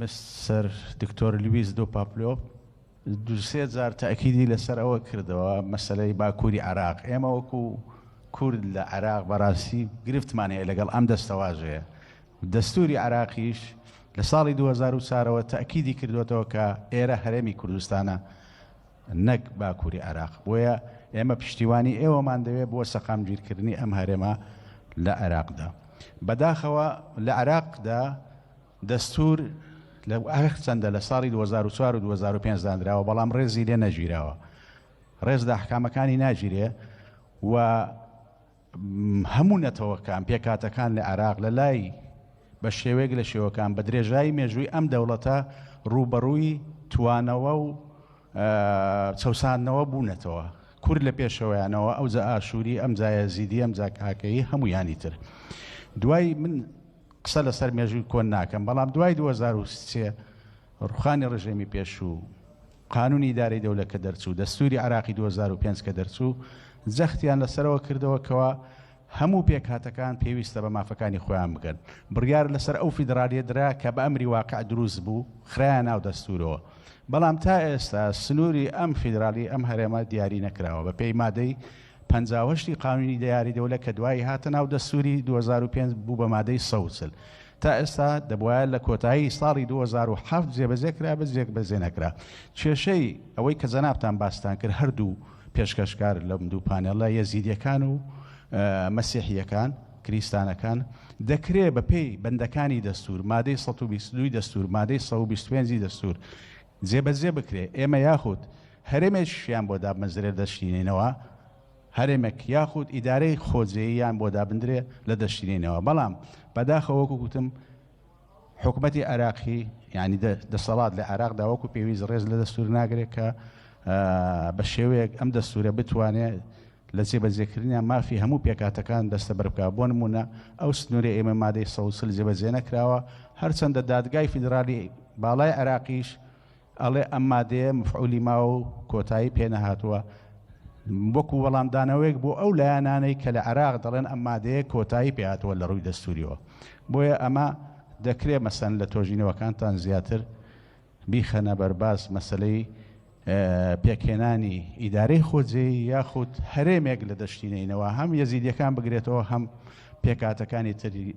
مستەر دکتۆر لویس دو پاپلۆ دو سێ جار تەئکیدی لەسەر ئەوە کردەوە مەسەلەی باکوری عێراق ئێمە وەکو کورد لە عێراق بەراستی گرفتمان هەیە لەگەڵ ئەم دەستەواژەیە دەستوری عێراقیش لە ساڵی 2004 ەوە تەئکیدی کردوەتەوە کە ئێرە هەرێمی کوردستانە نەک باکوری عێراق بۆیە ئێمە پشتیوانی ئێوەمان دەوێت بۆ سەقامگیرکردنی ئەم هەرێمە لە عێراقدا بەداخەوە لە عێراقدا دەستوور لە هەر چەندە لە ساڵی دوو هەزار و چوار و دوو هەزار و پێنج دانراوە بەڵام ڕێزی لێ نەگیراوە ڕێز لە ئەحکامەکانی ناگیرێ و هەموو نەتەوەکان پێکاتەکان لە عێراق لە لای بە شێوەیەک لە شێوەکان بە درێژایی مێژووی ئەم دەوڵەتە ڕووبەڕووی توانەوە و چەساندنەوە بوونەتەوە کور لە پێشەوەیانەوە ئەو جە ئاشووری ئەم جایە زیدی ئەم جاکاکەی هەمویانی تر دوای من قسە لەسەر مێژووی کۆن ناکەم، بەڵام دوای دوو هەزار و سێ ڕوخانی ڕژێمی پێشوو، قانونی ئیدارەی دەولە کە دەرچوو، دەستوری عێراقی دوو هەزار و پێنج کە دەرچوو، جەختیان لەسەرەوە کردەوە کەوا هەموو پێکهاتەکان پێویستە بە مافەکانی خۆیان بگەن. بڕیار لەسەر ئەو فیدرالیە درا کە بە ئەمری واقع دروست بوو، خرایە ناو دەستورەوە. بەڵام تا ئێستا سنوری ئەم فیدرالی ئەم هەرێمە دیاری نەکراوە بە پێی مادەی پەنجا و هەشت ی قانونی دەیاری دەولە کە دوایی هاتە ناو دەستوری دوو هەزار و پێنج بوو بە مادەی سەد و چل تا ئێستا دەبوایە لە کۆتایی ساڵی دوو هەزار و حەفت جێبەجێ کرابێت جێبەجێ نەکرا کێشەی ئەوەی کە جەنابتان باستان کرد هەردوو پێشکەشکار لەم دوو پانێڵە یەزیدیەکان و مەسیحیەکان کریستانەکان دەکرێ بەپێی بەندەکانی دەستور مادەی سەد و بیست و دوو ی دەستور مادەی سەد و بیست و پێنج ی دەستور جێبەجێ بکرێت، ئێمە یاخود هەرێمێکیشیان بۆ دابمەزرێت دەشینینەوە، هەرێمێک یاخود ئیدارەی خۆجێییان بۆ دابندرێت لە دەشینینەوە، بەڵام بەداخەوە وەکو گوتم حکومەتی عێراقی یعنی دەسەڵات لە عێراقدا وەکو پێویست ڕێز لە دەستور ناگرێت کە بە شێوەیەک ئەم دەستورە بتوانێت لە جێبەجێکردنیان مافی هەموو پێکهاتەکان دەستەبەر بکات، بۆ نموونە ئەو سنوورەی ئێمە مادەی سەد و چل جێبەجێ نەکراوە، هەرچەندە دادگای فیدرالی باڵای عێراقیش ئەڵێ ئەم مادەیە مفعولی ماوە و کۆتایی پێ نەهاتووە، وەکو وەڵامدانەوەیەک بۆ ئەو لایەنانەی کە لە عێراق دەڵێن ئەم مادەیە کۆتایی پێ هاتووە لە ڕووی دەستوورییەوە، بۆیە ئەمە دەکرێ مەسەن لە تۆژینەوەکانتان زیاتر بیخەنە بەرباس مەسەلەی پێکهێنانی ئیدارەی خۆجێی یاخود هەرێمێک لە دەشتی نەینەوە هەم یەزیدیەکان بگرێتەوە هەم پێکاتەکانی تری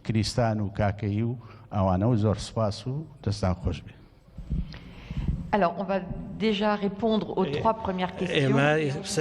کریستان و کاکەی و ئەوانە و زۆر سپاس و دەستان خۆش بێ. Alors, on va déjà répondre aux trois premières questions.